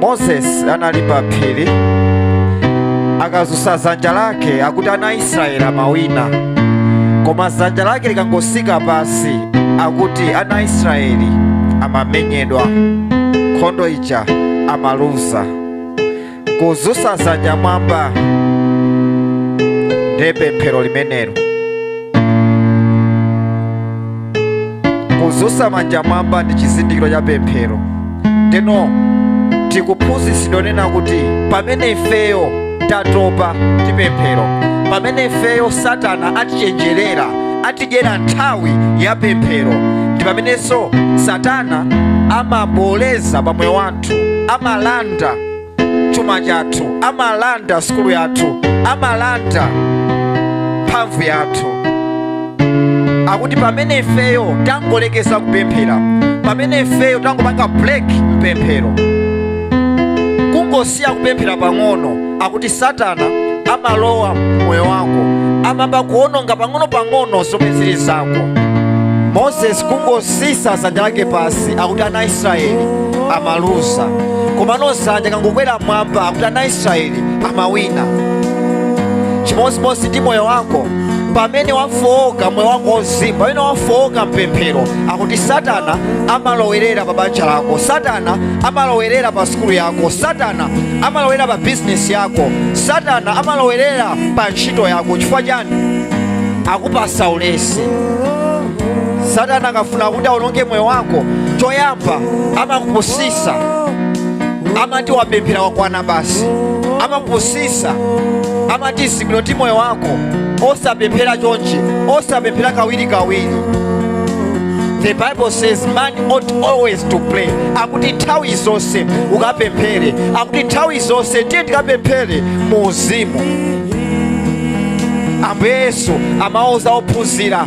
moses anali pa phiri akazusa zanja lake akuti ana israeli amawina koma zanja lake likangosika pasi akuti ana israeli amamenyedwa nkhondo ija amaluza kuzusa zanja mwamba ndi pemphero limenelo kuzusa manja mwamba ndi chizindikiro cha pemphero ndeno tikuphunzitsidwa nena kuti pamene ifeyo tatopa ndi pemphero pamene ifeyo satana atichenjerera atidyera nthawi ya pemphero ndi pamenenso satana amaboleza pa moyo wathu amalanda chuma chathu amalanda sukulu yathu amalanda mphamvu yathu akuti pamene ifeyo tangolekeza kupemphera pamene ifeyo tangopanga break mpemphero kungosiya kupemphera pang'ono akuti satana amalowa mmoyo wako amamba kuononga pang'ono-pang'ono zomwe zili zako moses kungosisa zanja lake pasi akuti ana israeli amaluza komano zanja kangokwera mwamba akuti ana israeli amawina chimodzimodzi ndi moyo wako pamene wafowoka moyo wako wauzimu pamene wafowoka mpemphero akuti satana amalowerera pa banja lako satana amalowerera pa sukulu yako satana amalowerera pa bizinesi yako satana amalowerera pa ntchito yako chifukwa chani akupasa ulesi satana akafuna kuti awononge moyo wako choyamba amakupusisa amati wapemphera wakwana basi amakupusisa amati zili bwino ndi moyo wako osapemphera chonchi osapemphera kawiri kawiri the bible says man ought always to pray akuti nthawi zonse ukapemphere akuti nthawi zonse tiye tikapemphere mu uzimu ambuye yesu amauza ophunzira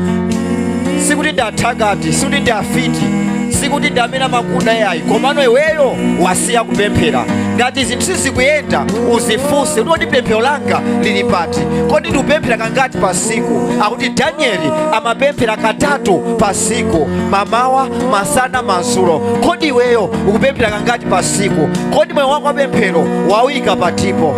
sikuti ndi athakati sikuti ndi afiti sikuti ndi amene amakuda yayi komano iweyo wasiya kupemphera ngati zinthu sizikuyenda uzifunse kuti kodi pemphero langa lili pati kodi ndikupemphera kangati pa siku akuti danieli amapemphera katatu pa siku mamawa masana madzulo kodi iweyo ukupemphera kangati pa siku kodi moyo wako wapemphero wawuyika patipo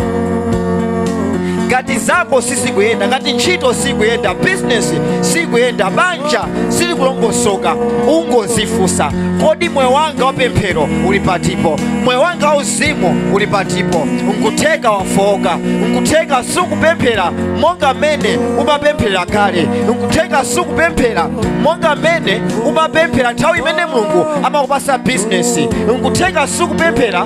ngati zako sizikuyenda ngati ntchito sikuyenda bizinesi sikuyenda banja silikulongosoka ungozifunsa kodi moyo wanga wapemphero uli patipo moyo wanga wauzimu uli patipo nkutheka wafowoka nkutheka sukupemphera monga mmene umapemphera kale nkutheka sukupemphera monga mmene umapemphera nthawi imene mulungu amakupasa bizinesi nkutheka sukupemphera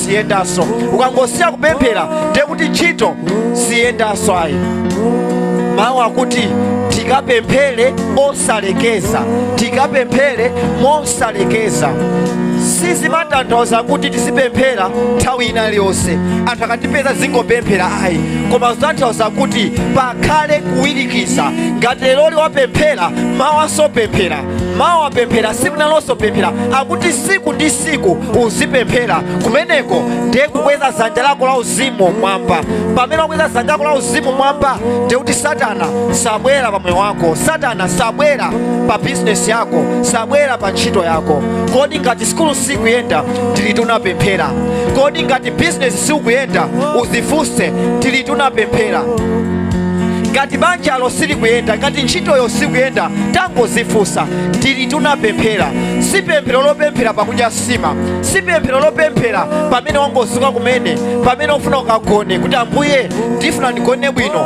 siyendanso ukangosiya kupemphera ndiye kuti ntchito siyendanso ayi mawu akuti tikapemphere osalekeza tikapemphere mosalekeza sizimatanthauza kuti tizipemphera nthawi ina iliyonse anthu akatipeza zingopemphera ayi koma zitanthauza kuti pakhale kuwirikiza ngati leroli wapemphera mawanso pemphera mawa pemphera siku linalonso pemphera akuti siku ndi siku uzipemphera kumeneko ndiye kukweza zanja lako la uzimu mwamba pamene wakweza zanja lako la uzimu mwamba ndiye kuti satana sabwera pa moyo wako satana sabwera pa bizinesi yako sabwera pa ntchito yako kodi ngati sikulu sikuyenda ndiliti unapemphera kodi ngati bizinesi sikuyenda uzifunse ndiliti unapemphera ngati banjalo silikuyenda ngati ntchitoyo sikuyenda tangozifunsa ndiliti unapemphera si pemphero lopemphera pakudya sima si pemphero lopemphera pamene wangozuka kumene pamene ufuna ukagone kuti ambuye ndifuna ndigone bwino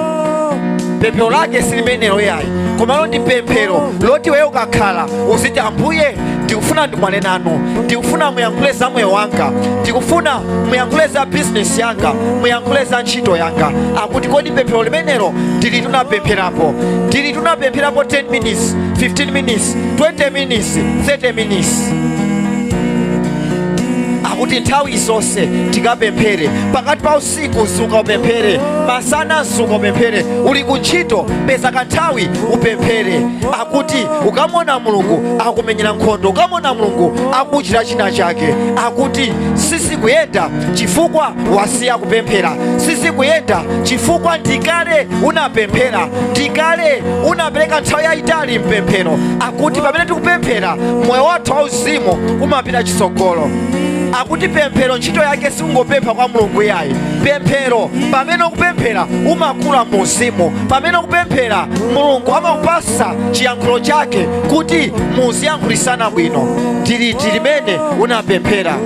pemphero lake silimenelo yayi komano ndi pemphero loti weyo ukakhala uziti ambuye ndikufuna ndikumane nanu ndikufuna muyankhule za moyo wanga ndikufuna muyankhule za bizinesi yanga muyankhule za ntchito yanga akuti kodi pemphero limenelo ndiliti unapempherapo ndiliti unapempherapo 10 minutes 15 minutes 20 minutes 30 minutes akuti nthawi zonse tikapemphere pakati pa usiku zuka upemphere masana zuka upemphere uli ku ntchito peza kanthawi upemphere akuti ukamona mulungu akumenyera nkhondo ukamona mulungu akuchita china chake akuti sizikuyenda chifukwa wasiya kupemphera sizikuyenda chifukwa ndikale unapemphera ndikale unapereka nthawi yayitali mpemphero akuti pamene tikupemphera moyo wathu wauzimu umapita chitsogolo akuti pemphero ntchito yake sikungopempha kwa mulungu yayi pemphero pamene ukupemphera umakula mu uzimu pamene ukupemphera mulungu amakupasa chiyankhulo chake kuti muziyankhulisana bwino ndiliti limene unapemphera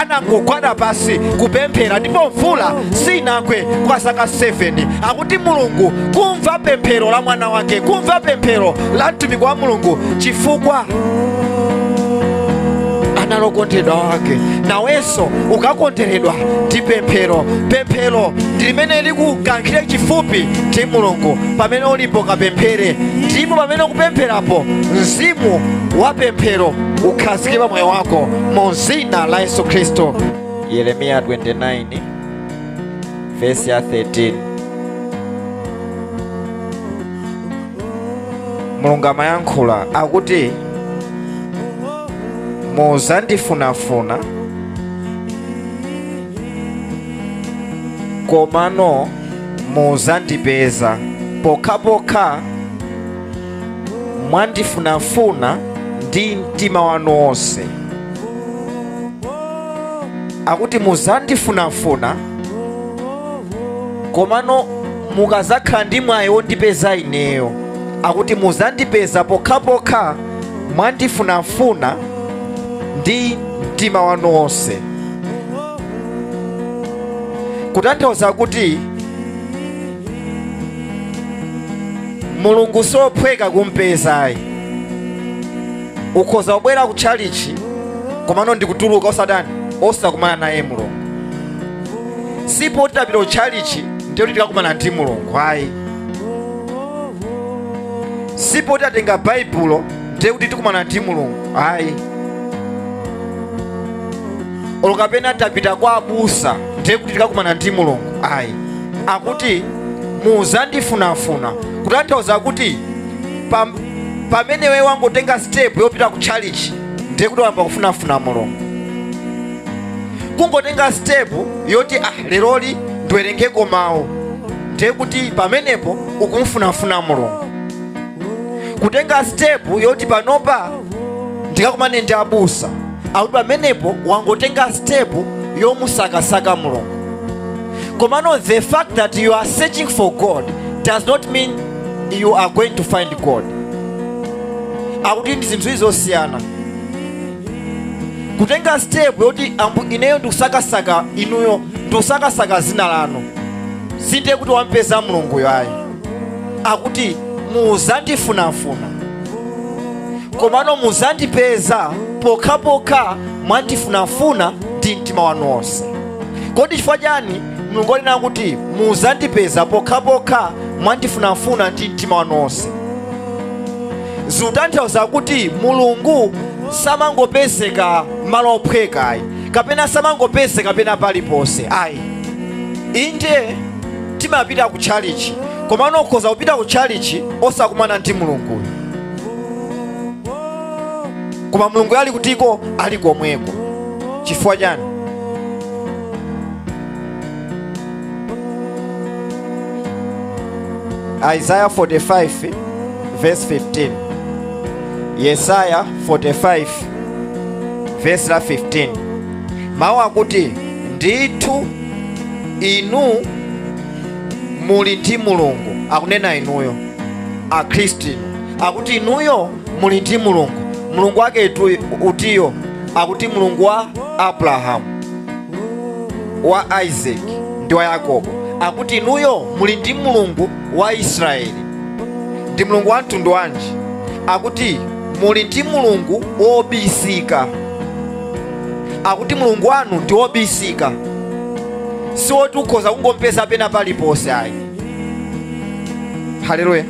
anangogwada pasi kupemphera ndipo mvula sinagwe kwa zaka 7 akuti mulungu kumva pemphero la mwana wake kumva pemphero la mtumiki wa mulungu chifukwa anali wokondedwa wake nawenso ukakonderedwa ndi pemphero pemphero ndi limene likukankhire chifupi ndi mulungu pamene ulipo kapemphere ndipo pamene ukupempherapo mzimu wa pemphero ukhazikike pa moyo wako mu dzina la yesu khristu yeremiya 29 vesi ya 13 mulungu amayankhula akuti muzandifunafuna komano muzandipeza pokhapokha mwandifunafuna ndi mtima wanu wonse akuti muzandifunafuna komano mukazakhala ndi mwayi wondipeza ineyo akuti muzandipeza pokhapokha mwandifunafuna ndi mtima wanu wonse kutanthauza kuti mulungu siophweka kumpeza ayi ukhoza kubwera ku tchalitchi komano ndikutuluka osatani osakumana naye mulungu sipo titapita ku tchalitchi ndiye kuti tikakumana ndi mulungu ayi sipo titatenga baibulo ndiye kuti tikumana ndi mulungu ayi olo kapena tapita kwa abusa ndiye kuti tikakumana ndi mulungu ayi akuti muzandifunafuna kutanthauza kuti pam- pamene iwe wangotenga step yopita ku tchalitchi ndiye kuti wayamba kufunafuna mulungu kungotenga step yoti ah leroli ndiwerengeko mawu ndiye kuti pamenepo ukumfunafuna mulungu kutenga step yoti panopa ndikakumane ndi abusa akuti pamenepo wangotenga step yomusakasaka mulungu komano the fact that you are searching for god does not mean you are going to find god akuti ndi zinthu zosiyana kutenga step yoti ambu ineyo ndikusakasaka inuyo ndikusakasaka zina lanu sinde kuti wampeza mulunguyo ayi akuti muzandifunafuna komano muzandipeza pokhapokha mwandifunafuna ndi mtima wanu wonse kodi chifukwa chani mulungu anena kuti muzandipeza pokhapokha mwandifunafuna ndi mtima wanu wonse zikutanthauza kuti mulungu samangopezeka malo ophweka ayi kapena samangopezeka pena paliponse ayi inde timapita ku tchalichi komano ukhoza kupita ku tchalichi osakumana ndi mulunguyo koma mulungu ali kutiko ali komweko chifukwa chani isaiah 45 verse 15 yesaya 45 verse la 15 mawu akuti ndithu inu muli ndi mulungu akunena inuyo akhristu inu akuti inuyo muli ndi mulungu mulungu wake itu- utiyo akuti mulungu wa abrahamu wa isaac ndi wa yakobo akuti inuyo muli ndi mulungu wa israeli ndi mulungu wa mtundu wanji akuti muli ndi mulungu wobisika akuti mulungu wanu ndi wobisika si woti ukhoza kungompeza pena paliponse ayi haleluya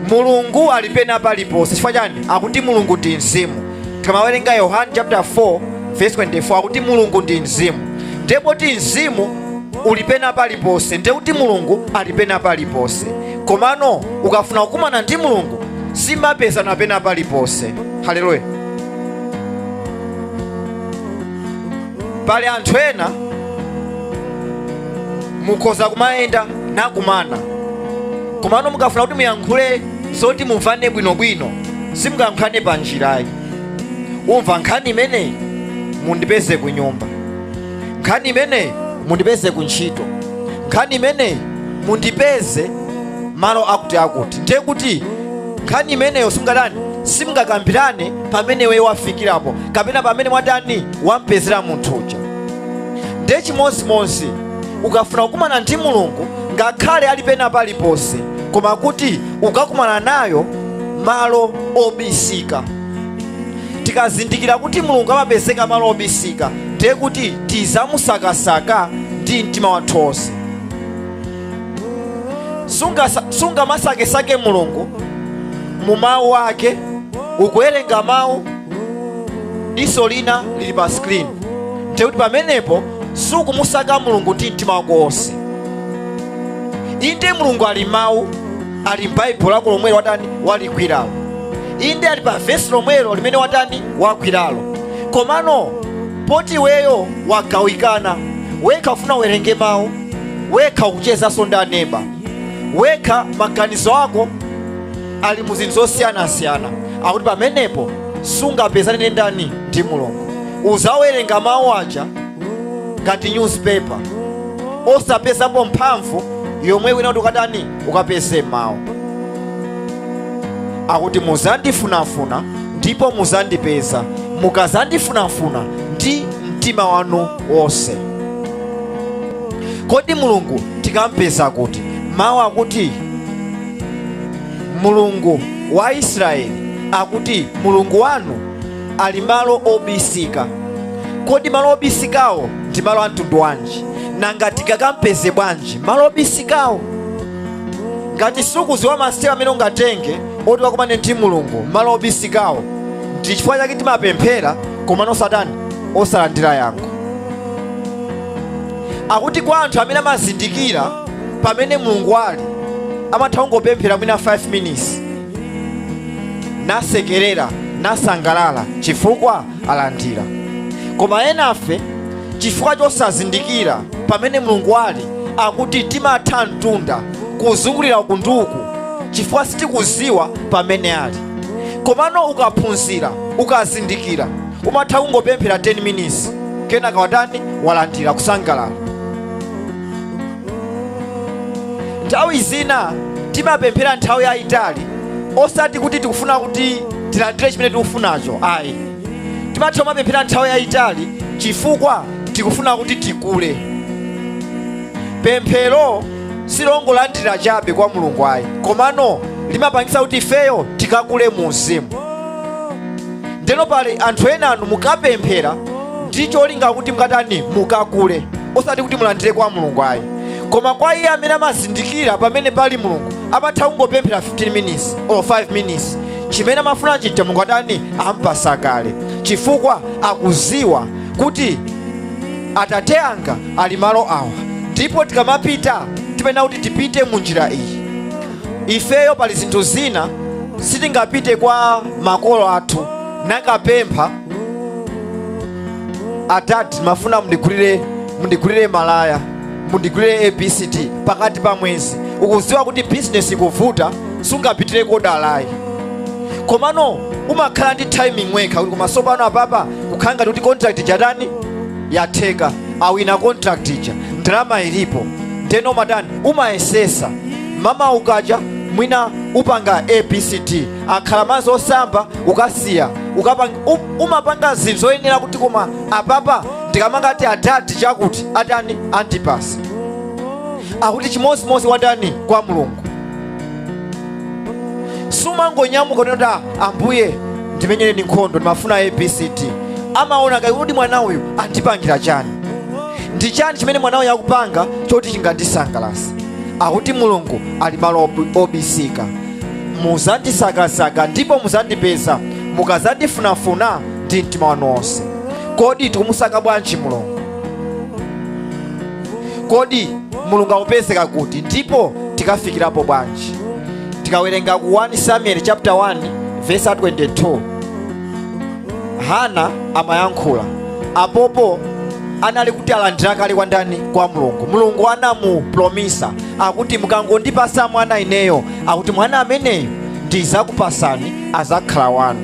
mulungu ali pena paliponse chifukwa chani akuti mulungu ndi mzimu tikamawerenga yohane chapter 4 verse 24 akuti mulungu ndi mzimu ndiye poti mzimu uli pena paliponse ndiye kuti mulungu ali pena paliponse komano ukafuna kukumana ndi mulungu simapezana pena paliponse haleluya pali anthu ena mukhoza kumayenda nakumana komano mukafuna kuti muyankhule zoti mumvane bwinobwino simungayankhulane pa njira ayi umva nkhani imeneyi mundipeze ku nyumba nkhani imeneyi mundipeze ku ntchito nkhani imeneyi mundipeze malo akuti akuti ndiye kuti nkhani imeneyo simungatani simungakambirane pamene iwe wafikirapo kapena pamene mwatani wampezera munthu uja ndiye chimodzimodzi ukafuna kukumana ndi mulungu ngakhale ali pena paliponse koma kuti ukakumana naye malo obisika tikazindikira kuti mulungu amapezeka malo obisika ndiye kuti tizamusakasaka ndi mtima wathu wonse Sungasa- sungamasakesake mulungu mu mawu ake ukuwerenga mawu diso lina lili pa screen ndiye kuti pamenepo sukumusaka mulungu ndi mtima wako wonse inde mulungu ali mawu ali m'baibulo lako lomwelo watani waligwiralo inde ali pa vesi lomwelo limene watani wagwiralo komano poti iweyo wagawikana wekha ufuna uwerenge mawu wekha ukuchezanso ndi aneba wekha maganizo ako ali mu zinthu zosiyanasiyana akuti pamenepo sungapezane ndi ndani ndi mulungu uzawerenga mawu aja ngati newspaper osapezapo mphamvu yomwe wina kuti ukatani ukapeze m'mawu akuti muzandifunafuna ndipo muzandipeza mukazandifunafuna ndi mtima wanu wonse kodi mulungu tikampeza kuti mawu akuti mulungu wa israeli akuti mulungu wanu ali malo obisika kodi malo obisikawo ndi malo amtundu wanji nanga tikakampeze bwanji malo obisikawo ngati sukuziwa masitepe amene ungatenge oti ukakumane ndi mulungu malo obisikawo ndi chifukwa chake timapemphera komano osatani osalandira yankho akuti kwa anthu amene amazindikira pamene mulungu ali amatha kungopemphera mwina 5 minutes nasekerera nasangalala chifukwa alandira koma enafe chifukwa chosazindikira pamene mulungu ali akuti timatha mtunda kuzungulira uku ndi uku chifukwa sitikuziwa pamene ali komano ukaphunzira ukazindikira umatha kungopemphera 10 minutes kenaka watani walandira kusangalala nthawi zina timapemphera nthawi yayitali osati kuti tikufuna kuti tilandire chimene tikufunacho ayi timatha kumapemphera nthawi yayitali chifukwa tikufuna kuti tikule pemphero silongolandira chabe kwa mulungu ayi komano limapangisa kuti ifeyo tikakule mu uzimu ndeno pali anthu enanu mukapemphera ndi cholinga kuti mukatani mukakule osati kuti mulandire kwa mulungu ayi koma kwa iye amene amazindikira pamene pali mulungu amatha kungopemphera 15 minutes or 5 minutes chimene amafuna chija mulungu atani ampasa kale chifukwa akuziwa kuti atate anga ali malo awa ndipo tikamapita timayenera kuti tipite mu njira iyi ifeyo pali zinthu zina sitingapite kwa makolo athu nakapempha adadi ndimafuna mundigulire mundigulire malaya mundigulire abcd pakati pa mwezi ukudziwa kuti bizinesi ikuvuta sungapitire kodalayi komano umakhala ndi timing wekha kuti koma sopano apapa kukhala ngati kuti contract ija yatani yatheka awina contract ija ndalama ilipo ndeno umatani umayesesa mama ukaja mwina upanga abcd kaya akhala mazi osamba ukasiya ukapanga um- umapanga zinthu zoyenera kuti koma apapa ndikangoti adadi chakuti atani andipasa akuti chimodzimodzi ndani kwa mulungu sumangonyamuka kunena kuti "Ah, ambuye ndimenyereni nkhondo ndimafuna abcd amaona kaye kuti mwana uyu wandipangira chani ndi chani chimene mwana uyu akupanga choti chingandisangalatse akuti mulungu ali malo ob- obisika muzandisakasaka ndipo muzandipeza mukazandifunafuna ndi mtima wanu wonse kodi tikumusaka bwanji mulungu kodi mulungu akupezeka kuti ndipo tikafikirapo bwanji tikawerenga ku 1 samuel chapter 1 verse 22 hana amayankhula apopo anali kuti alandira kale kwa ndani kwa mulungu mulungu anamupromisa akuti mukangondipasa mwana ineyo akuti mwana ameneyo ndizakupasani azakhala wanu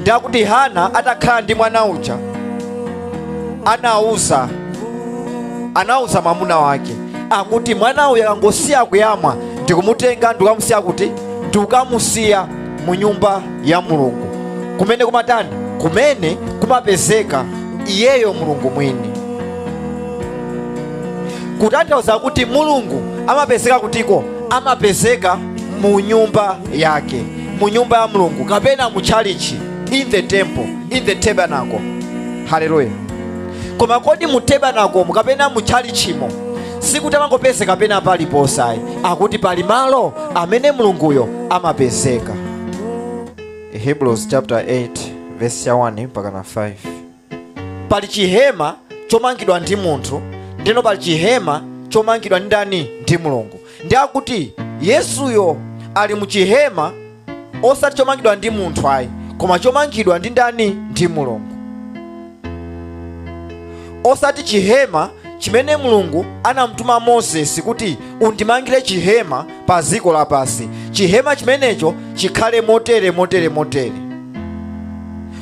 ndiye akuti hana atakhala ndi mwana uja anauza anauza mwamuna wake akuti mwana uyu akangosiya kuyamwa ndikumutenga ndikukamusiya kuti ndikukamusiya mu nyumba ya mulungu kumene kumatani kumene kumapezeka iyeyo mulungu mwini kutanthauza kuti mulungu amapezeka kutiko amapezeka mu nyumba yake mu nyumba ya mulungu kapena mu chalichi in the temple in the tabernacle haleluya koma kodi mu tabernacle kapena mu tchalichimo sikuti amangopezeka pena paliponse ayi akuti pali malo amene mulunguyo amapezeka hebrews chapter 8 verse ya 1 mpaka na 5 pali chihema chomangidwa ndi munthu ndeno pali chihema chomangidwa ndi ndani ndi mulungu ndi akuti yesuyo ali mu chihema osati chomangidwa ndi munthu ayi koma chomangidwa ndi ndani ndi mulungu osati chihema chimene mulungu anamutuma moses kuti undimangire chihema pa dziko lapansi chihema chimenecho chikhale motere motere motere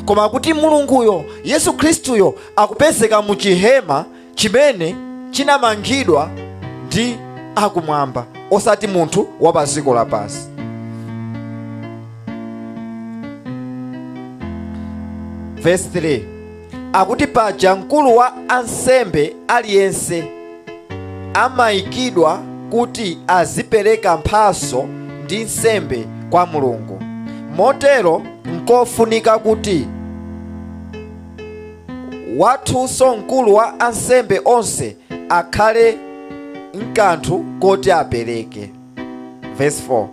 koma kuti mulunguyo yesu khristuyo akupezeka mu chihema chimene chinamangidwa ndi akumwamba osati munthu wa pa dziko lapansi verse 3 akuti paja mkulu wa ansembe aliyense amayikidwa kuti azipereka mphaso ndi nsembe kwa mulungu motero nkofunika kuti wathunso mkulu wa ansembe onse akhale nkanthu koti apereke verse 4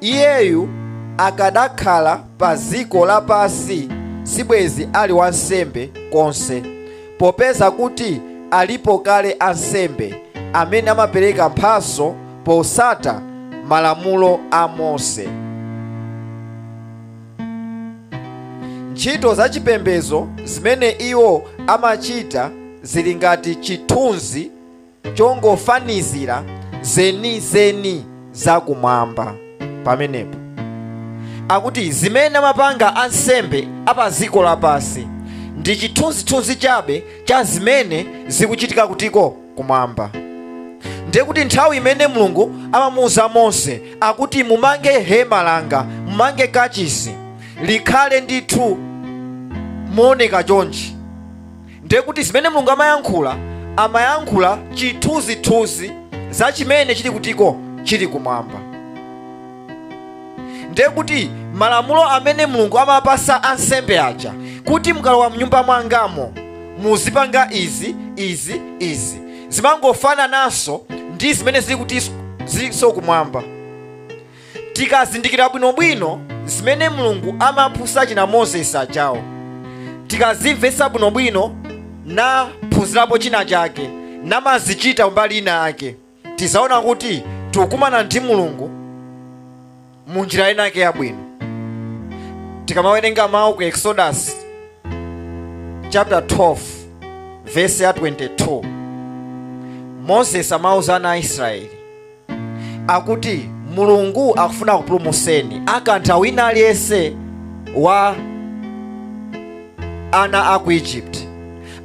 iyeyu akanakhala pa dziko lapansi sibwezi ali wansembe konse popeza kuti alipo kale ansembe amene amapereka mphaso posata malamulo a mose ntchito za chipembedzo zimene iwo amachita zili ngati chithunzi chongofanizira zenizeni zakumwamba pamenepo akuti zimene amapanga ansembe a pa dziko lapansi ndi chithunzithunzi chabe cha zimene zikuchitika kutiko kumwamba ndiye kuti nthawi imene mulungu amamuuza mose akuti mumange hema langa mumange kachisi likhale ndithu mooneka chonchi ndiye kuti zimene mulungu amayankhula amayankhula chithunzithunzi za chimene chili kutiko chili kumwamba ndiye kuti malamulo amene mulungu amapasa ansembe aja kuti mukalowa mnyumba mwangamo muzipanga izi izi izi zimangofanananso ndi zimene zili kuti zilinso kumwamba tikazindikira bwinobwino zimene mulungu amaphunzitsa achina moses ajawo tikazimvetsa bwinobwino naphunzirapo china chake namazichita mbali ina yake tidzaona kuti tikukumana ndi mulungu mu njira ina yake yabwino tikamawerenga mawu ku exodus chapter 12 verse ya 22 moses amauza ana a israeli akuti mulungu akufuna kupulumutseni akantha wina aliyense wa ana a ku egypt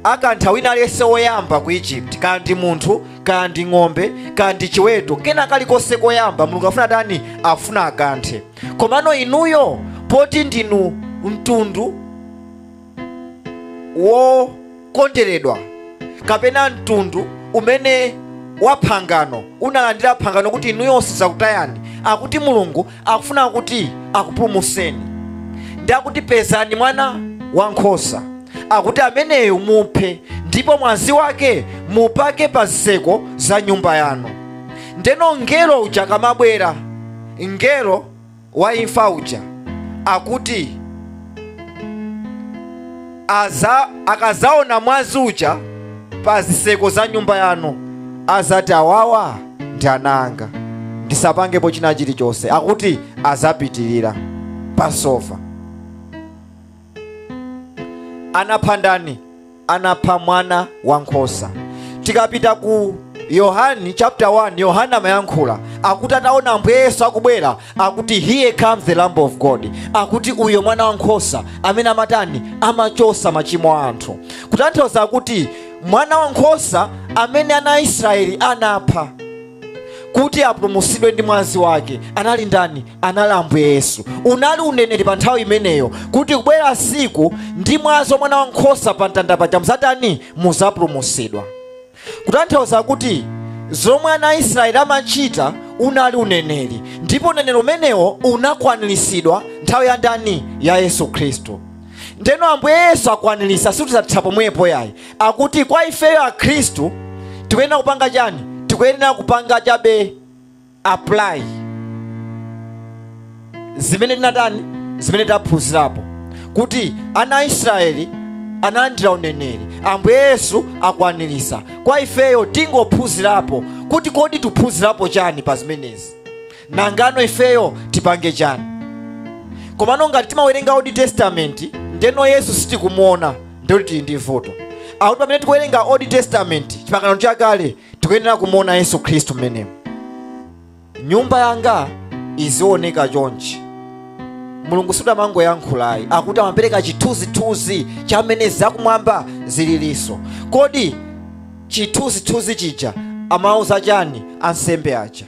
akantha wina aliyense woyamba ku egypt kaya ndi munthu kaya ndi ng'ombe kaya ndi chiweto kena kalikonse koyamba mulungu afuna tani afuna akanthe komano inuyo poti ndinu mtundu wokondedwa kapena mtundu umene wa phangano unalandira phangano kuti inuyo sinzakutayani akuti mulungu akufuna kuti akupulumutseni ndi akuti pezani mwana wankhosa akuti ameneyo muphe ndipo mwazi wake mupake pa zitseko za nyumba yanu ndeno mngelo uja akamabwera mngelo wa imfa uja akuti akazaona mwazi uja pa ziseko za nyumba yanu azati awawa ndi ana anga ndisapangepo china chilichonse akuti azapitirira pasova anapha ndani anapha mwana wa nkhosa tikapita ku yohani chapter 1 yohani amayankhula akuti ataona ambuye yesu akubwera akuti here comes the lamb of god akuti uyo mwana wa nkhosa amene amatani amachosa machimo a anthu kutanthauza kuti mwana wa nkhosa amene ana a israeli anapha kuti apulumutsidwe ndi mwazi wake anali ndani anali ambuye yesu unali uneneri pa nthawi imeneyo kuti kubwera siku ndi mwazi wa mwana wa nkhosa pa mtanda paja muzatani muzapulumutsidwa kutanthauza kuti zomwe ana a israeli amachita unali uneneri ndipo uneneri umenewo unakwaniritsidwa nthawi ya ndani ya yesu khristu ndeno ambuye yesu akwanirisa sikuti zathera pomwepo yayi akuti kwa ifeyo akhristu tikuyenera kupanga chani tikuyenera kupanga chabe apply zimene tinatani zimene taphunzirapo kuti ana a israeli analandira uneneri ambuye yesu akwanirisa kwa ifeyo tingophunzirapo kuti kodi tiphunzirapo chani pa zimenezi nangano ifeyo tipange chani komano ngati timawerenga old testament ndeno yesu sitikumuona ndikuti tili ndi vuto akuti pamene tikuwerenga old testament chipangano chakale tikuyenera kumuona yesu khristu mmenemo nyumba yanga izioneka chonchi mulungu sumangoyankhula ayi akuti amapereka chithunzithunzi cha mmene zakumwamba zililinso kodi chithunzithunzi chija amauza chani ansembe aja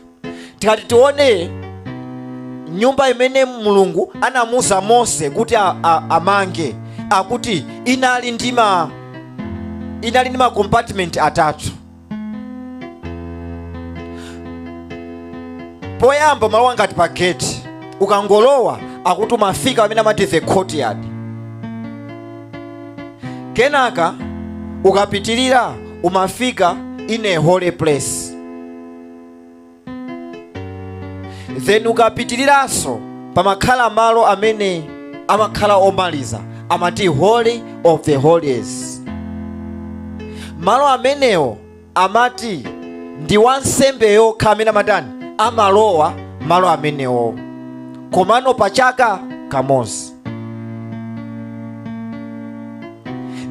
tikati tione nyumba imene mulungu anamuuza mose kuti a- a- amange akuti inali ndi ma inali ndi makompartment atatu poyamba malo ngati pa gate ukangolowa akuti umafika amene amati the courtyard kenaka ukapitirira umafika in a holy place then ukapitiriranso pamakhala malo amene amakhala omaliza amati holy of the holies malo amenewo amati ndi wansembe yokha amene amatani amalowa malo amenewo komano pa chaka kamodzi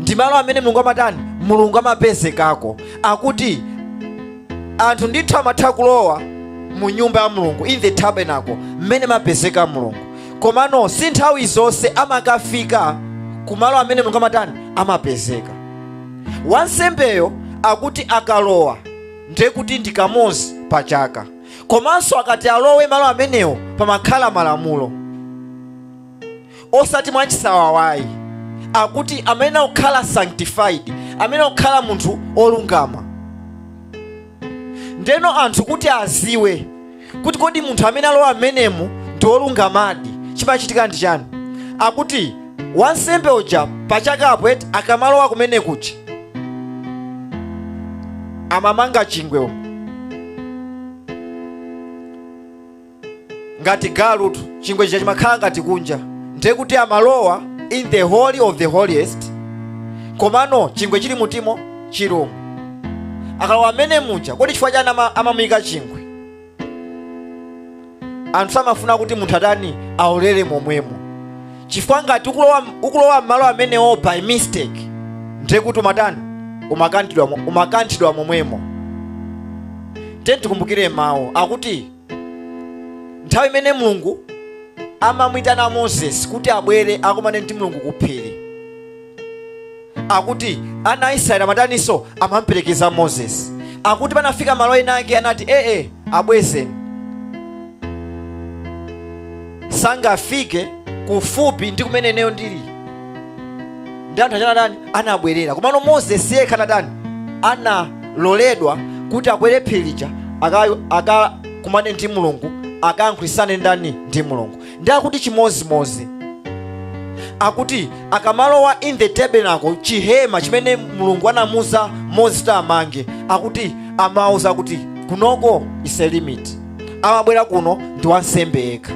ndi malo amene mulungu amatani mulungu amapezekako akuti anthu ndithu amatha kulowa mu nyumba ya mulungu in the tabernacle mmene amapezeka mulungu komano si nthawi zonse amakafika kumalo amene mulungu amatani amapezeka wansembeyo akuti akalowa ndiye kuti ndi kamodzi pa chaka komanso akati alowe malo amenewo pamakhala malamulo osati mwachisawawayi akuti amene akukhala sanctified amene akukhala munthu olungama ndeno anthu kuti aziwe kuti kodi munthu amene alowa mmenemu ndi olungamadi chimachitika ndi chani akuti wansembe uja pachakapo eti akamalowa kumene kuja amamanga chingwe ngati galutu chingwe chija chimakhala ngati kunja ndiye kuti amalowa in the holy of the holiest komano chingwe chili m'thupimo chilomo akalowa mmene muja kodi chifukwa chani ama- amamuyika chingwe anthu samafuna kuti munthu atani aolere momwemo chifukwa ngati ukulowa ukulowa m'malo amenewo by mistake ndiye kuti umatani umakanthidwa mo- umakanthidwa momwemo tiyeni tikumbukire mawu akuti nthawi imene mulungu amamwitana moses kuti abwere akumane ndi mulungu ku phiri akuti ana a israeli amataninso amamperekeza moses akuti panafika malo ena ake anati ee abwezeni sangafike kufupi ndi kumene ineyo ndili ndi anthu achana dani anabwerera komano moses yekha anadani analoledwa kuti akwere phiri lija aka- akakumane ndi mulungu akayankhulitsane ndani ndi mulungu ndi akuti chimozimozi akuti akamalowa in the tabernacle chihema chimene mulungu anamuza mose kuti amange akuti amawauza kuti kunoko is a limit amabwera kuno ndi wansembe yekha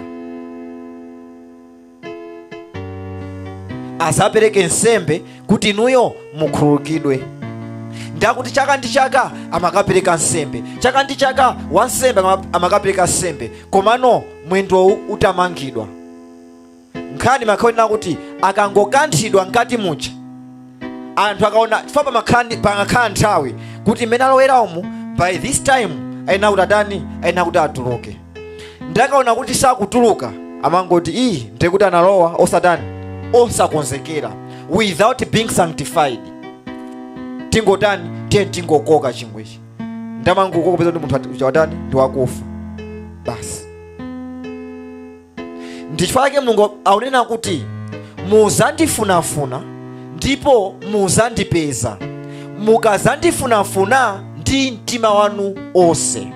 azapereke nsembe kuti inuyo mukhululukidwe ndi akuti chaka ndi chaka amakapereka nsembe chaka ndi chaka wansembe ama- amakapereka nsembe komano mwendowu utamangidwa nkhani imakhala onena kuti akangokanthidwa mkati muja anthu akaona chifukwa pamakhala ndi- panakhala nthawi kuti mmene alowera umu by this time ayenera kuti atani ayenera kuti atuluke ndakaona kuti sakutuluka amangoti ii ndiye kuti analowa osatani osakonzekera without being sanctified tingotani tiyeni tingokoka chingwechi ndamangokoka kupeza kuti munthu ati- uja watani ndi wakufa basi ndichifukwa chake mulungu akunena kuti muzandifunafuna ndipo muzandipeza mukazandifunafuna ndi mtima wanu onse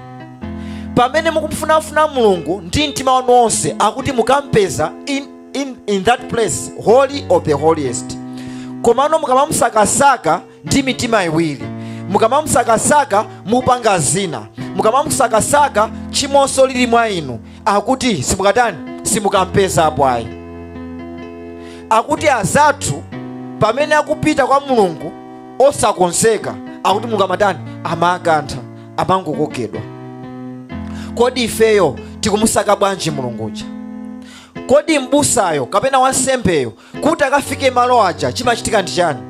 pamene mukumfunafuna mulungu ndi mtima wanu onse akuti mukampeza in, in, in that place holy of the holiest komano mukamamusakasaka ndi mitima iwiri mukamamusakasaka mukupanga zina mukamamusakasaka tchimonso lili mwa inu akuti simukatani simukampezapo ayi akuti azathu pamene akupita kwa mulungu osakonzeka akuti mulungu amatani amakantha amangokokedwa kodi ifeyo tikumusaka bwanji mulunguja kodi m'busayo kapena wansembeyo kuti akafike malo aja chimachitika ndi chani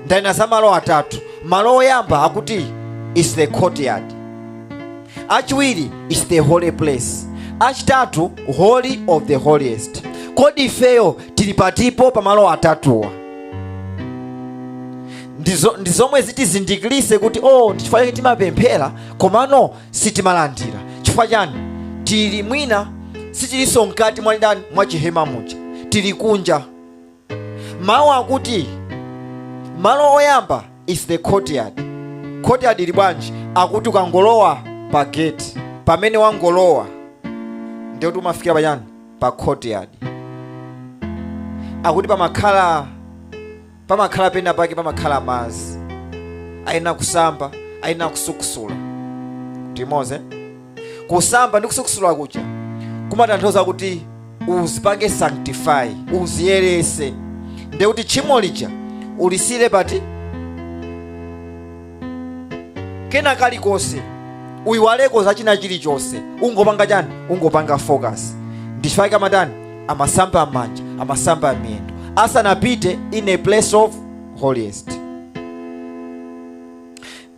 ndanena za malo atatu malo oyamba akuti is the courtyard achiwiri is the holy place achitatu holy of the holiest kodi ifeyo tili patipo pa malo atatuwa ndi zomwe zitizindikirise kuti o oh, ndichifukwa chake timapemphera komano sitimalandira chifukwa chani tili mwina sitilinso mkati mwa ndani mwa chihema muja tili kunja mawu akuti malo oyamba is the courtyard courtyard ili bwanji akuti ukangolowa pa gate pamene wangolowa ndiye kuti umafikira pachani pa courtyard akuti pamakhala pamakhala pena pake pamakhala madzi ayenera kusamba ayenera kusukusula tili limodzi kusamba ndi kusukusula kuja kumatanthauza kuti uzipange sanctify uziyerese nde kuti tchimo lija ulisiyire pati kena kalikonse uyiwaleko za china chilichonse ungopanga chani ungopanga focus ndi chifukwa chake amatani amasamba manja amasamba miyendo asanapite in a place of holiest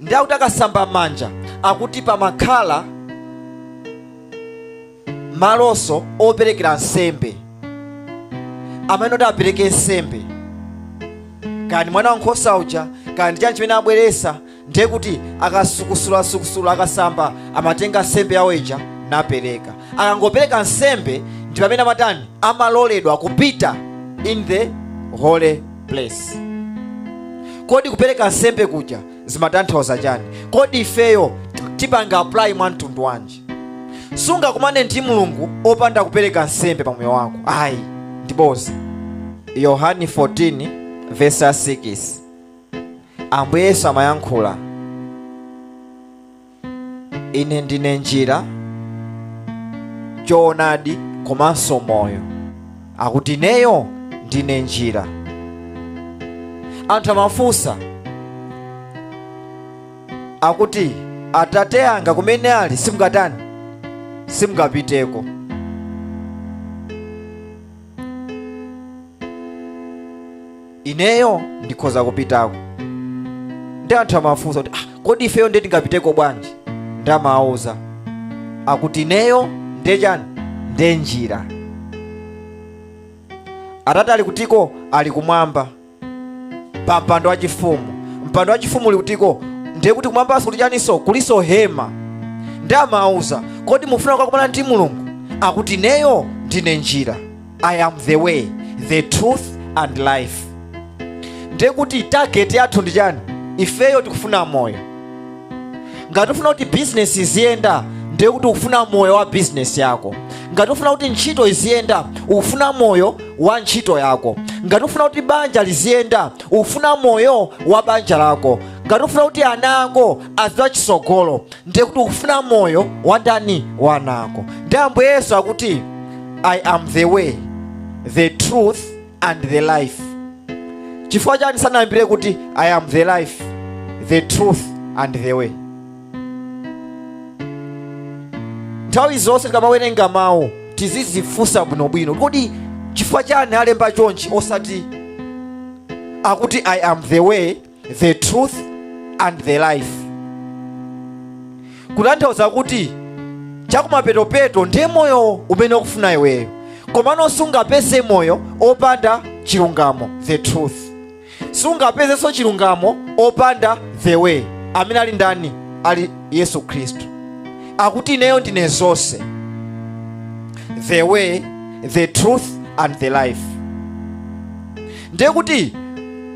nde kuti akasamba manja akuti pamakhala malonso operekera nsembe amene ati apereke nsembe kaya ndi mwana wankhosa uja kaya ndi chani chimene abweresa ndiye kuti akasukusulasukusula akasamba amatenga nsembe yawo ija napereka akangopereka nsembe ndi pamene amatani amaloledwa kupita in the holy place kodi kupereka nsembe kuja zimatanthauza chani kodi ifeyo tipanga apply mwa mtundu wanji sungakumane ndi mulungu opanda kupereka nsembe pa moyo wako ayi ndi bodza yohani 14 vesi 6 ambuye yesu amayankhula ine ndine njira choonadi komanso moyo akuti ineyo ndine njira anthu amafunsa akuti atate anga kumene ali simungatani simungapiteko ineyo ndikhoza kupitako nde anthu amafunsa kuti ah, kodi ifeyo ndiye tingapiteko bwanji nde amawauza akuti ineyo ndiye chani ndiye njira atate ali kutiko ali kumwamba pa mpando wachifumu mpando wachifumu uli kutiko ndiye kuti kumwambanso kuli chaninso kulinso hema nde amawauza kodi mukufuna kukakumana ndi mulungu akuti ineyo ndine njira i am the way the truth and life ndiye kuti target yathu ndi chani ifeyo tikufuna moyo ngati ufuna kuti bizinesi iziyenda ndiye kuti ukufuna moyo wa bizinesi yako ngati ufuna kuti ntchito iziyenda ukufuna moyo wa ntchito yako ngati ufuna kuti banja liziyenda ukufuna moyo wa banja lako ngati ufuna kuti ana ako azipita chitsogolo ndiye kuti ukufuna moyo wa ndani wa ana ako ndi ambuye yesu akuti i am the way the truth and the life chifukwa chani sanayambire kuti i am the life the truth and the way nthawi zonse tikamawerenga mawu tizizifunsa bwinobwino kodi chifukwa chani alemba chonchi osati akuti i am the way the truth and the life kutanthauza kuti chakumapetopeto ndiye moyo umene ukufuna iweyo komano sungapeze moyo opanda chilungamo the truth sungapezenso chilungamo opanda the way amene ali ndani ali yesu khristu akuti ineyo ndine zonse the way the truth and the life ndiye kuti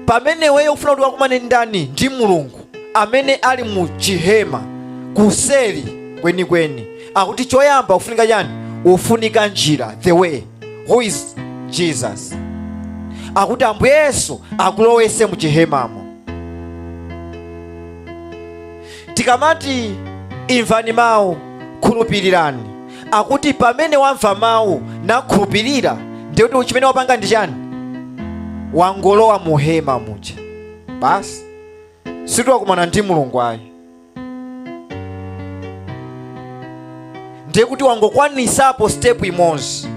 pamene iweyo ufuna kuti ukumane ndi ndani ndi mulungu amene ali mu chihema kuseri kwenikweni akuti choyamba ufunika chani ufunika njira the way who is jesus akuti ambuye yesu akulowese mu chihemamo tikamati imvani mawu khulupirirani akuti pamene wamva mawu nakhulupirira ndiye kuti chimene wapanga ndi chani wangolowa mu hema muja basi sikuti wakumana ndi mulungu ayi ndiye kuti wangokwanisapo step imodzi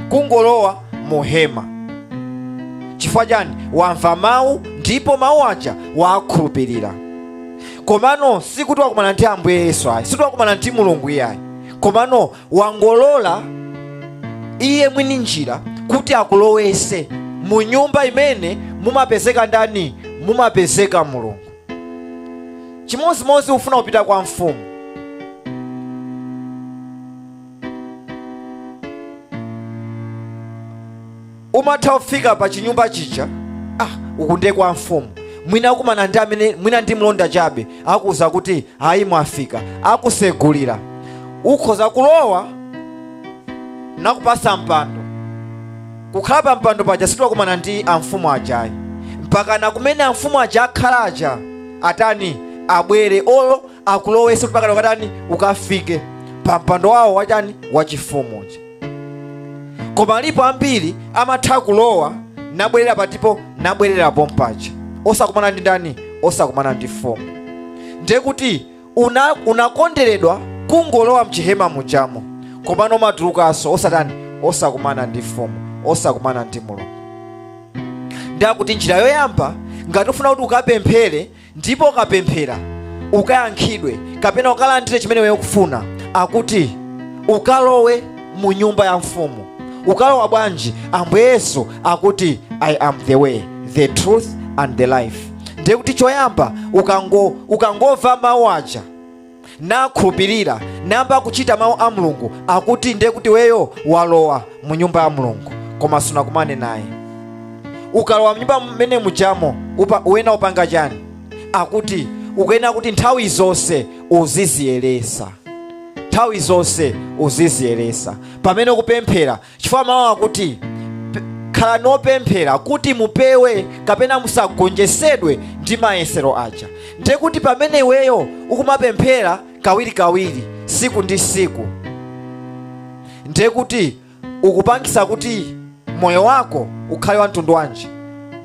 kungolowa mu hema chifukwa chani wamva mawu ndipo mawu aja wakhulupirira komano sikuti wakumana ndi ambuye yesu ayi sikuti wakumana ndi mulungu iyayi komano wangolola iye mwini njira kuti akulowetse mu nyumba imene mumapezeka ndani mumapezeka mulungu chimodzimodzi ufuna kupita kwa mfumu umatha kufika pa chinyumba chija ah, uku ndiye kwa mfumu mwina kumana ndi amene mwina ndi mlonda chabe akuuza kuti ayi mwafika akusegulira ukhoza kulowa nakupasa mpando kukhala pa mpando paja sikuti wakumana ndi amfumu aja ayi mpaka na kumene amfumu aja akhalaja atani abwere olo akulowese mpaka ukatani ukafike pa mpando wawo wachani wachifumu uja koma alipo ambiri amatha kulowa nabwerera patipo nabwerera pompaja osakumana ndi ndani osakumana ndi mfumu ndiye kuti unakonderedwa kungolowa mchihema mujamo komano amatulukanso osatani osakumana ndi mfumu osakumana ndi mulungu ndiye kuti njira yoyamba ngati ufuna kuti ukapemphere ndipo ukapemphera ukayankhidwe kapena ukalandire chimene iwe ukufuna akuti ukalowe mu nyumba ya mfumu ukalowa bwanji ambuye yesu akuti i am the way the truth and the life ndiye kuti choyamba ukango ukangomva mawu aja nakhulupirira nayamba kuchita mawu a mulungu akuti ndiye kuti weyo walowa mu nyumba ya mulungu koma sunakumane naye ukalowa mnyumba mmene mujamo uyenera upanga chani akuti ukuyenera kuti nthawi zonse uziziyeresa nthawi zonse uziziyeresa pamene ukupemphera chifukwa mawu akuti khalani opemphera kuti mupewe kapena musagonjesedwe ndi mayesero aja ndiye kuti pamene iweyo ukumapemphera kawirikawiri siku ndi siku ndiye kuti ukupangisa kuti moyo wako ukhale wa mtundu wanji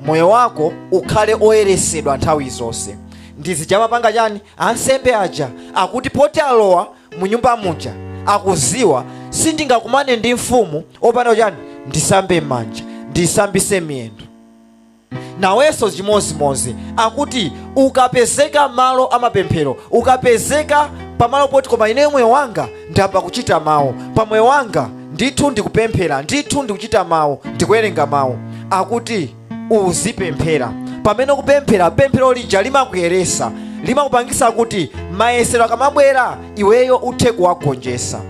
moyo wako ukhale oyeresedwa nthawi zonse ndi zija amapanga chani ansembe aja akuti poti alowa mu nyumba muja akuziwa sindingakumane ndi mfumu opanda chani ndisambe m'manja ndisambise miyendo nawenso chimodzimodzi akuti ukapezeka malo amapemphero ukapezeka pamalo poti koma ineyo moyo wanga ndiyamba kuchita mawu pa moyo wanga ndithu ndikupemphera ndithu ndikuchita mawu ndikuwerenga mawu akuti uzipemphera pamene ukupemphera pemphero lija limakuyeresa limakupangisa kuti mayesero akamabwera iweyo uthe kuwagonjesa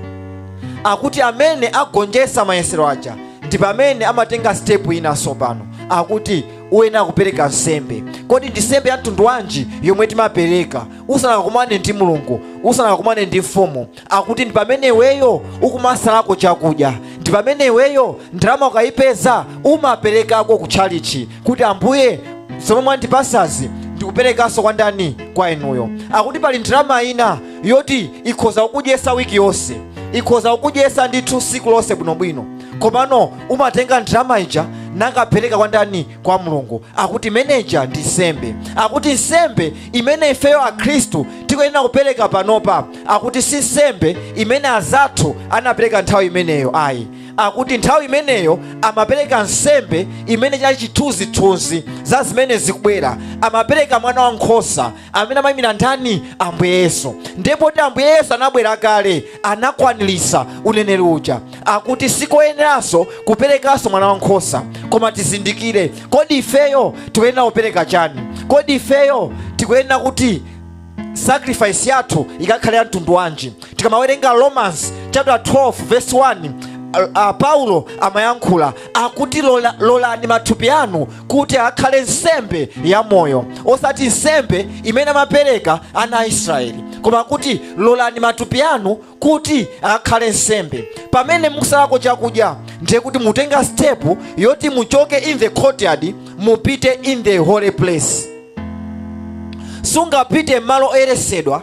akuti amene agonjesa mayesero aja ndi pamene amatenga sitepu ina sopano akuti uyenera kupereka nsembe kodi ndi nsembe ya mtundu wanji yomwe timapereka usanakakumane ndi mulungu usanakakumane ndi mfumu akuti ndi pamene iweyo ukumasalako chakudya ndi pamene iweyo ndalama ukayipeza umaperekako ku tchalichi kuti ambuye zomwe mwandipasazi ndikuperekanso kwa ndani kwa inuyo akuti pali ndalama ina yoti ikhoza kukudyesa wiki yonse ikhoza kukudyesa ndithu siku lonse bwinobwino komano umatenga ndalama ija nakapereka kwa ndani kwa mulungu akuti imene ija ndi nsembe akuti nsembe imene ifeyo akhristu tikuyenera kupereka panopa akuti si nsembe imene azathu anapereka nthawi imeneyo ayi akuti nthawi imeneyo amapereka nsembe imene chinali chithunzithunzi za zimene zikubwera amapereka mwana wa nkhosa amene amayimira ndani ambuye yesu ndiye poti ambuye yesu anabwera kale anakwanirisa uneneri uja akuti sikoyeneranso kuperekanso mwana wankhosa koma tizindikire kodi ifeyo tikuyenera kupereka chani kodi ifeyo tikuyenera kuti sacrifice yathu ikakhale ya mtundu wanji tikamawerenga romans chapter 12 verse 1 uh, uh, paulo amayankhula akuti lolani mathupi anu kuti akhale nsembe ya moyo osati nsembe imene amapereka ana a israeli koma kuti lolani mathupi anu kuti akhale nsembe pamene mukusalako chakudya ndiye kuti mutenga stepu yoti muchoke in the courtyard mupite in the holy place sungapite mmalo oyeresedwa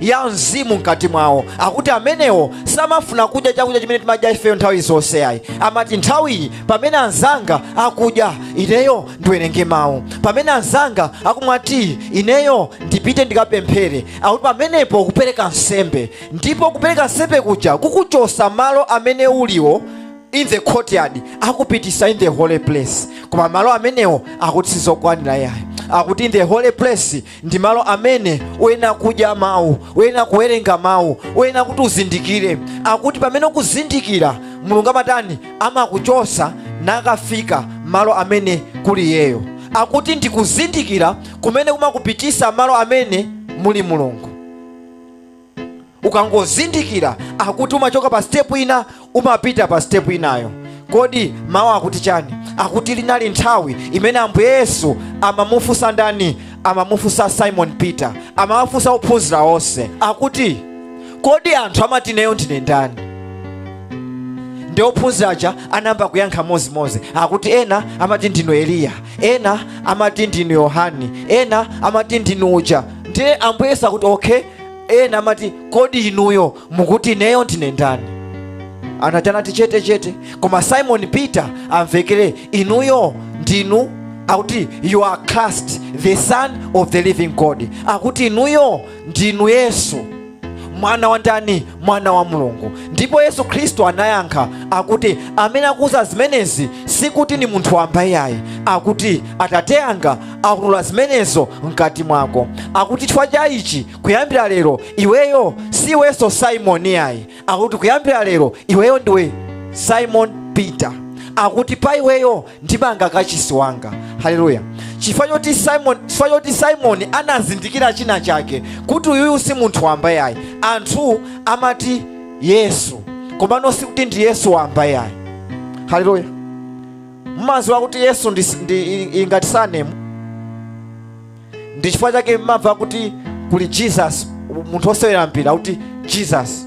ya mzimu mkati mwawo akuti amenewo samafuna kudya chakudya chimene timadya ifeyo nthawi zonse ayi amati nthawiyi pamene anzanga akudya ineyo ndiwerenge mawu pamene anzanga akumwa tiyi ineyo ndipite ndikapemphere akuti pamenepo kupereka nsembe ndipo kupereka nsembe kuja kukuchosa malo amene uliwo in the courtyard akupitisa in the holy place koma malo amenewo akuti sizokwanira yayi akuti in the holy place ndi malo amene uyenera kudya mawu uyenera kuwerenga mawu uyenera kuti uzindikire akuti pamene ukuzindikira mulungu amatani amakuchosa nakafika malo amene kuli iyeyo akuti ndikuzindikira kumene kumakupitisa malo amene muli mulungu ukangozindikira akuti umachoka pa step ina umapita pa step inayo kodi mawu akuti chani akuti linali nthawi imene ambuye yesu amamufunsa ndani amamufunsa simon peter amamufunsa ophunzira onse akuti kodi anthu amati ineyo ndine ndani ndi ophunzira aja anayamba kuyankha mozimozi akuti ena amati ndinu eliya ena amati ndinu yohani ena amati ndinu uja ndiye ambuye yesu akuti okay ena amati kodi inuyo mukuti ineyo ndine ndani anatani anati chete chete koma simon peter amvekere inuyo ndinu akuti you are christ the son of the living god akuti inuyo ndinu yesu mwana wa ndani mwana wa mulungu ndipo yesu khristu anayankha akuti amene akuuza zimenezi sikuti ni munthu wamba iyayi akuti atate anga akuulula zimenezo mkati mwako akuti chifukwa cha ichi kuyambira lero iweyo si iwenso simoni yayi akuti kuyambira lero iweyo ndiwe simon peter akuti pa iweyo ndimanga kachisi wanga haleluya chifukwa choti simoni anazindikira china chake kuti uyuyu si munthu wamba yayi anthu amati yesu komano sikuti ndi yesu wamba yayi haleluya mmaziwa kuti yesu ndi, ndi, i- i- ngati sanemu ndi chifukwa chake mmamva kuti kuli jesus munthu osewera mpira kuti jesus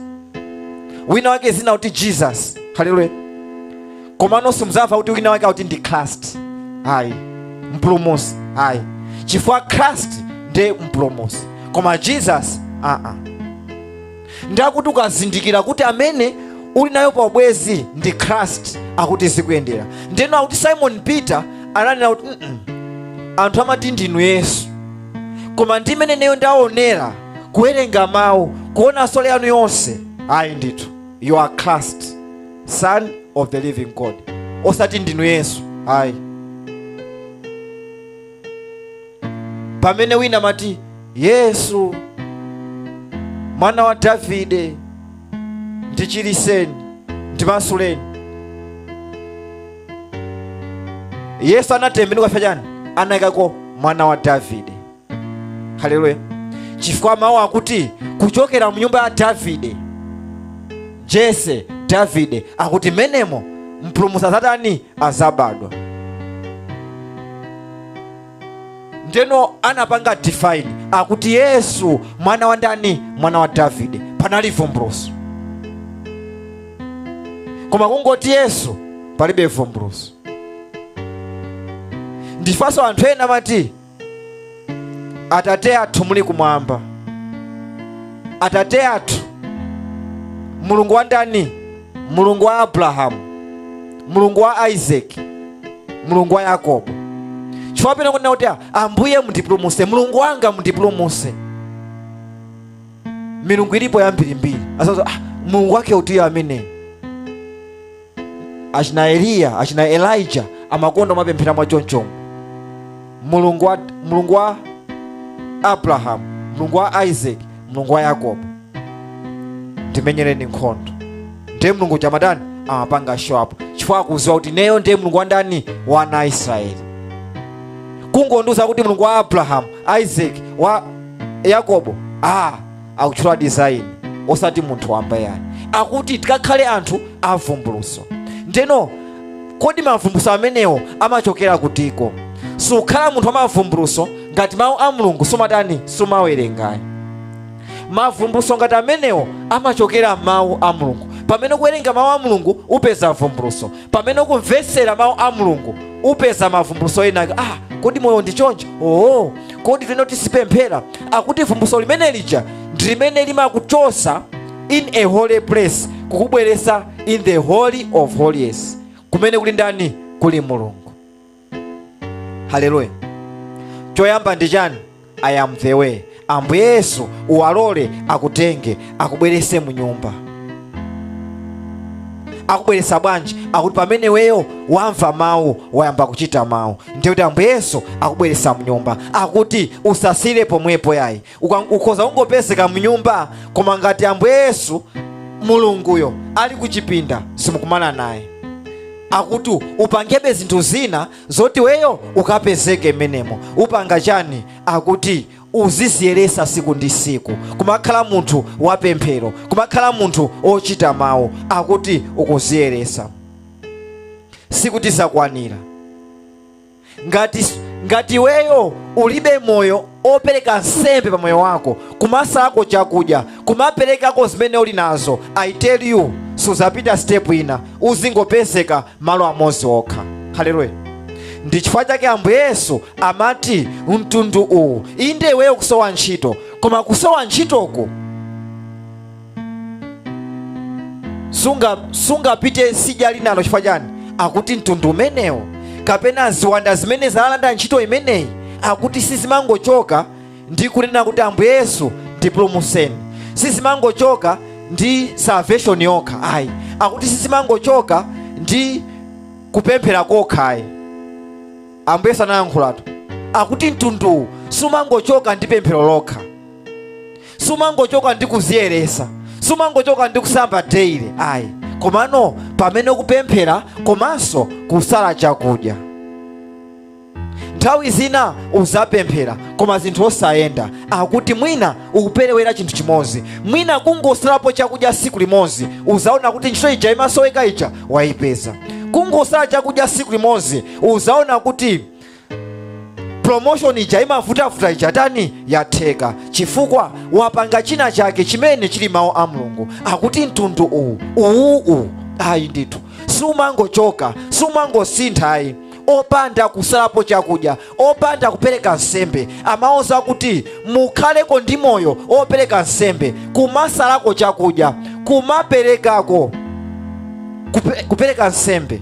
wina wake zina kuti jesus haleluya komano simuzamva kuti wina wake akuti ndi christ ayi mpulumusi ayi chifukwa christ ndiye mpulumusi koma jesus aa uh -uh. ndi akuti ukazindikira kuti amene uli naye pa ubwezi ndi christ akuti zikuyendera ndeno akuti simon peter ananena kuti "Mm-mm, anthu amati ndinu yesu koma mmene ineyo ndaonera kuwerenga mawu kuona soul yanu yonse ayi ndithu you are christ son of the living god osati ndinu yesu ayi pamene wina amati yesu mwana wa davide ndichiliseni ndimasuleni yesu anatembenuka chifukwa chani anayikako mwana wa davide haleluya chifukwa mawu akuti kuchokera mu nyumba ya davide jese davide akuti mmenemo mpulumutsi azatani azabadwa ndeno anapanga define akuti yesu mwana wa ndani mwana wa davide panali vumbuluso koma kungoti yesu palibe vumbuluso n'chifanso anthu ena amati atate athu muli kumwamba atate athu mulungu wa ndani mulungu wa abrahamu mulungu wa isaki mulungu wa yakobo chifukwa pena kunena kuti ambuye mundipulumuse mulungu wanga mundipulumuse milungu ilipo yambirimbiri asazo ah, mulungu wake utiyo ameneyu achina eliya achina elija amakonda kumapemphera mwa chonchomo mulungu wa abrahamu mulungu wa isaac mulungu wa yakobo ndimenyereni nkhondo ndiye mulungu uja amatani amapanga show up chifukwa akuziwa kuti neyo ndiye mulungu wa ndani wa ana aisraeli kungondiuza kuti mulungu wa abrahamu isaac wa yakobo ah akutchula design osati munthu wamba yayi akuti tikakhale anthu avumbuluso ndeno kodi mavumbuluso amenewo amachokera kutiko sukhala munthu wa mavumbuluso ngati mawu a mulungu sumatani sumawerengayi mavumbuluso ngati amenewo amachokera mawu a mulungu pamene ukuwerenga mawu a mulungu upeza vumbuluso pamene ukumvetsera mawu a mulungu upeza mavumbuluso enaake ah kodi moyo ndi choncho oo kodi tino tisipemphera akuti vumbuluso limene lija ndi limene limakuchosa in a holy place kukubweresa in the holy of holies kumene kuli ndani kuli mulungu haleluya choyamba ndi chani i am the way ambuye yesu uwalole akutenge akubwerese mu nyumba akubweresa bwanji akuti pamene weyo wamva mawu wayamba kuchita mawu ndiye kuti ambuye yesu akubweretsa mnyumba akuti usasire pomwepo yayi uka- ukhoza kungopezeka mnyumba koma ngati ambuye yesu mulunguyo ali kuchipinda simukumana naye akuti upangebe zinthu zina zoti weyo ukapezeke mmenemo upanga chani akuti uziziyeresa siku ndi siku kumakhala munthu wapemphero kumakhala munthu ochita mawu akuti ukuziyeresa sikuti zakwanira ngati iweyo ulibe moyo opereka nsembe pa moyo wako kumasalako chakudya kumaperekako zimene uli nazo i tell you suzapita step ina uzingopezeka malo amodzi okha haleluya ndi chifukwa chake ambuye yesu amati mtundu uwu inde iweyo kusowa ntchito koma kusowa ntchitoku sungapite sidya linalo chifukwa chani akuti mtundu umenewo kapena ziwanda zimene zalanda ntchito imeneyi akuti sizimangochoka ndi kunena kuti ambuye yesu ndipulumutseni sizimangochoka ndi salvation yokha ayi akuti sizimangochoka ndi kupemphera kokha ayi ambuye yesu analankhulatu akuti mtunduwu sumangochoka ndi pemphero lokha sumangochoka ndi kuziyeresa sumangochoka ndi kusamba daily ayi komano pamene kupemphera komanso kusala chakudya nthawi zina uzapemphera koma zinthu osayenda akuti mwina ukuperewera chinthu chimodzi mwina kungosalapo chakudya siku limodzi uzaona kuti ntchito ija imasoweka ija wayipeza kungosala chakudya siku limodzi uzaona kuti promotion ija imavutavuta ija tani yatheka chifukwa wapanga china chake chimene chili mawu a mulungu akuti mtundu uwu uwu uwu ayi ndithu sumangochoka sumangosintha ayi opanda kusalapo chakudya opanda kupereka nsembe amawauza kuti mukhaleko ndi moyo opereka nsembe kumasalako chakudya kumaperekako kupereka nsembe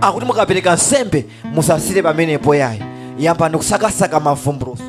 akuti mukapereka nsembe musasire pamenepo yayi yambani kusakasaka mavumbuluso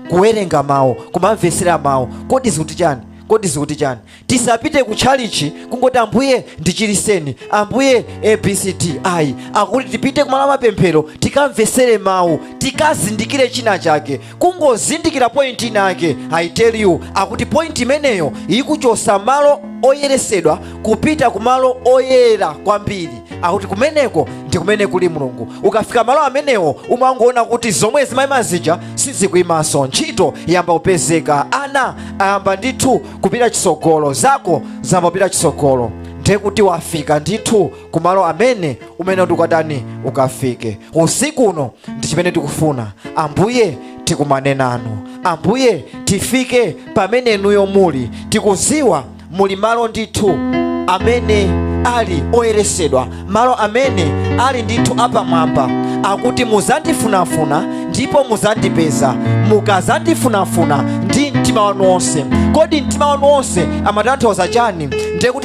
kuwerenga mawu kumamvetsera mawu kodi zikuti chani kodi zikuti chani tisapite ku tchalichi kungoti ambuye ndichiriseni ambuye abcd ayi akuti tipite kumalo amapemphero tikamvetsere mawu tikazindikire china chake kungozindikira point inake i tell you akuti point imeneyo ikuchosa malo oyeresedwa kupita ku malo oyera kwambiri akuti kumeneko ndi kumene kuli mulungu ukafika malo amenewo umangoona kuti zomwe zimayima zija sizikuyimanso ntchito yamba kupezeka ana ayamba ndithu kupita chisogolo zako zayamba kupita chisogolo ndiye kuti wafika ndithu kumalo amene umene ndikatani ukafike usiku uno ndi chimene tikufuna ambuye tikumane nanu ambuye tifike pamene inuyo muli tikuziwa muli malo ndithu amene ali oyeresedwa malo amene ali ndithu apamwamba akuti muzandifunafuna ndipo muzandipeza mukazandifunafuna ndi mtima wanu wonse kodi mtima wanu wonse amatanthauza chani ndiye kuti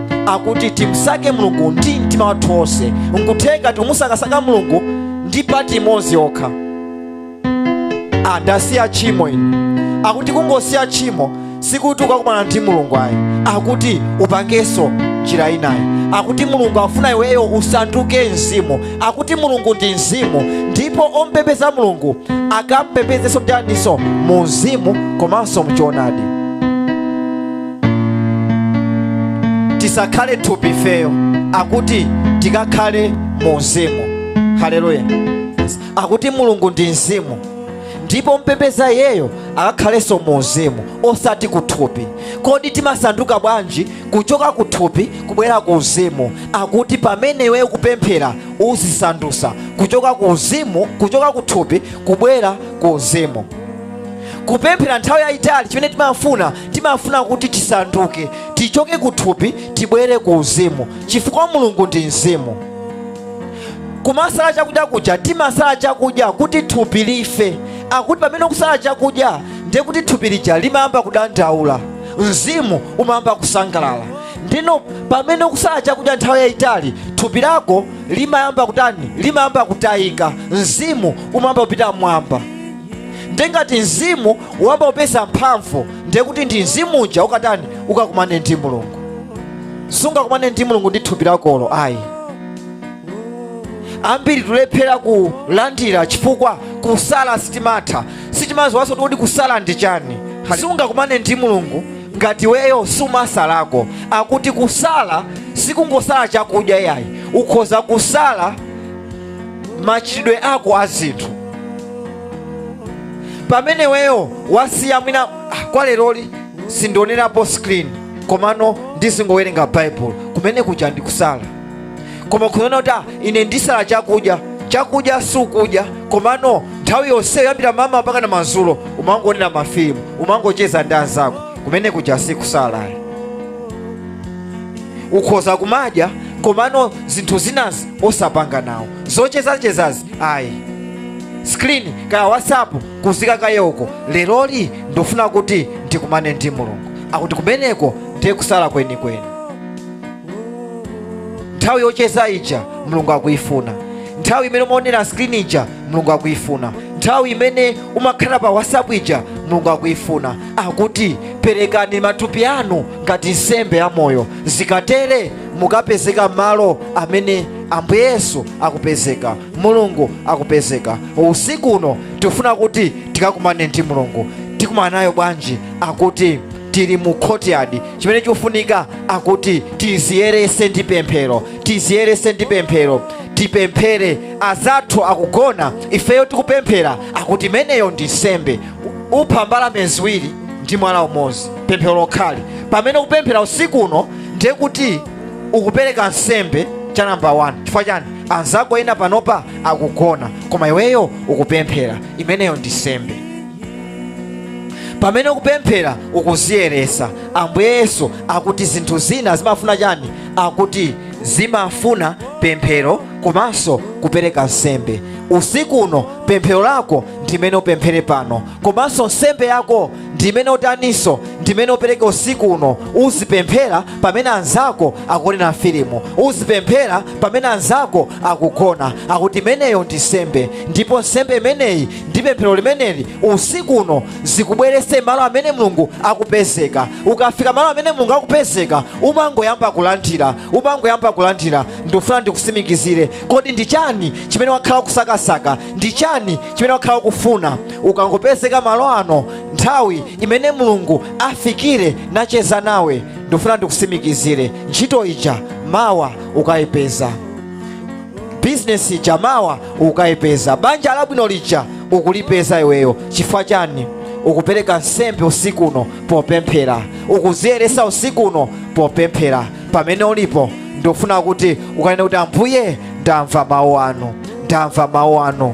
akuti timsake mulungu ndi mtima wathu wonse nkutheka tikumusakasaka mulungu ndi pati imodzi yokha ndasiya tchimo ine akuti kungosiya tchimo sikuti ukakumana ndi mulungu ayi akuti upangenso njira inayi akuti mulungu afuna iweyo usanduke mzimu akuti mulungu ndi mzimu ndipo ompembeza mulungu akampembezenso mtaninso mu mzimu komanso mchoonadi tisakhale thupi ifeyo akuti tikakhale mu uzimu haleluya akuti mulungu ndi mzimu ndipo ompembeza iyeyo akakhalenso mu uzimu osati ku thupi kodi timasanduka bwanji kuchoka ku thupi kubwera ku uzimu akuti pamene iweyo ukupemphera uzisandusa kuchoka ku uzimu kuchoka ku thupi kubwera ku uzimu kupemphera nthawi yayitali chimene timafuna timafuna kuti tisanduke tichoke ku thupi tibwere ku uzimu chifukwa mulungu ndi mzimu kumasala chakudya kuja timasala chakudya kuti thupi life akuti pamene ukusala chakudya ndiye kuti thupi lija limayamba kudandaula mzimu umayamba kusangalala ndiyeno pamene ukusala chakudya nthawi yayitali thupi lako limayamba kutani limayamba kutayika mzimu umayamba kupita m'mwamba nde ngati mzimu wayamba kupeza mphamvu ndiye kuti ndi mzimu uja ukatani ukakumane ndi mulungu sungakumane ndi mulungu ndi thupi lakolo ayi ambiri tulephera kulandira chifukwa kusala sitimatha sitimaziwanso kuti kusala ndi chani sungakumane ndi mulungu ngati iweyo sumasalako akuti kusala sikungosala chakudya yayi ukhoza kusala machitidwe ako a zinthu pamene iweyo wasiya mwina "Ah, kwa leroli sindionerapo screen komano ndizingowerenga baibulo kumene kuja ndi kusala koma kunena kuti "Ah, ine ndisala chakudya chakudya sukudya komano nthawi yonseyo kuyambira mmawa mpaka na madzulo umangoonera mafilimu umangocheza ndi anzako kumene kuja sikusala ayi ukhoza kumadya komano zinthu zinazi osapanga nawo zochezachezazi ayi screen kaya whatsapp kuziika kaye uko leroli ndofuna kuti ndikumane ndi mulungu akuti kumeneko ndiye kusala kwenikweni nthawi yocheza ija mulungu akuyifuna nthawi imene umaonera screen ija mulungu akuyifuna nthawi imene umakhala pa whatsapp ija mulungu akuyifuna akuti perekani matupi anu ngati nsembe ya moyo zikatere mukapezeka malo amene ambuye yesu akupezeka mulungu akupezeka usiku uno tifuna kuti tikakumane ndi mulungu tikumana naye bwanji akuti tili mu courtyard chimene chikufunika akuti tiziyerese ndi pemphero tiziyerese ndi pemphero tipemphere azathu akugona ifeyo tikupemphera akuti imeneyo ndi nsembe upha mbalame ziwiri ndi mwala umodzi pemphero lokhali pamene ukupemphera usiku uno ndiye kuti ukupereka nsembe cha namba 1 chifukwa chani anzako ena panopa akugona koma iweyo ukupemphera imeneyo ndi nsembe pamene ukupemphera ukuziyeresa ambuye yesu akuti zinthu zina zimafuna chani akuti zimafuna pemphero komanso kupereka nsembe usiku uno pemphero lako ndimene upemphere pano komanso nsembe yako ndimene utaninso ndimene upereke usiku uno uzipemphera pamene anzako akuonera filimu uzipemphera pamene anzako akugona akuti imeneyo ndi nsembe ndipo nsembe imeneyi ndi pemphero limeneli usiku uno zikubwerese malo amene mulungu akupezeka ukafika malo amene mulungu akupezeka umangoyamba kulandira umangoyamba kulandira ndikufuna ndikusimikizire kodi ndi chani chimene wakhala ukusakasaka ndi chani chimene wakhala ukufuna ukangopezeka malo ano nthawi imene mulungu afikire nacheza nawe ndikufuna ndikusimikizire ntchito ija mawa ukayipeza bizinesi ija mawa ukayipeza banja labwino lija ukulipeza iweyo chifukwa chani ukupereka nsembe usiku uno popemphera ukuziyeresa usiku uno popemphera pamene ulipo ndikufuna kuti ukanene kuti ambuye ndamva mawu anu ndamva mawu anu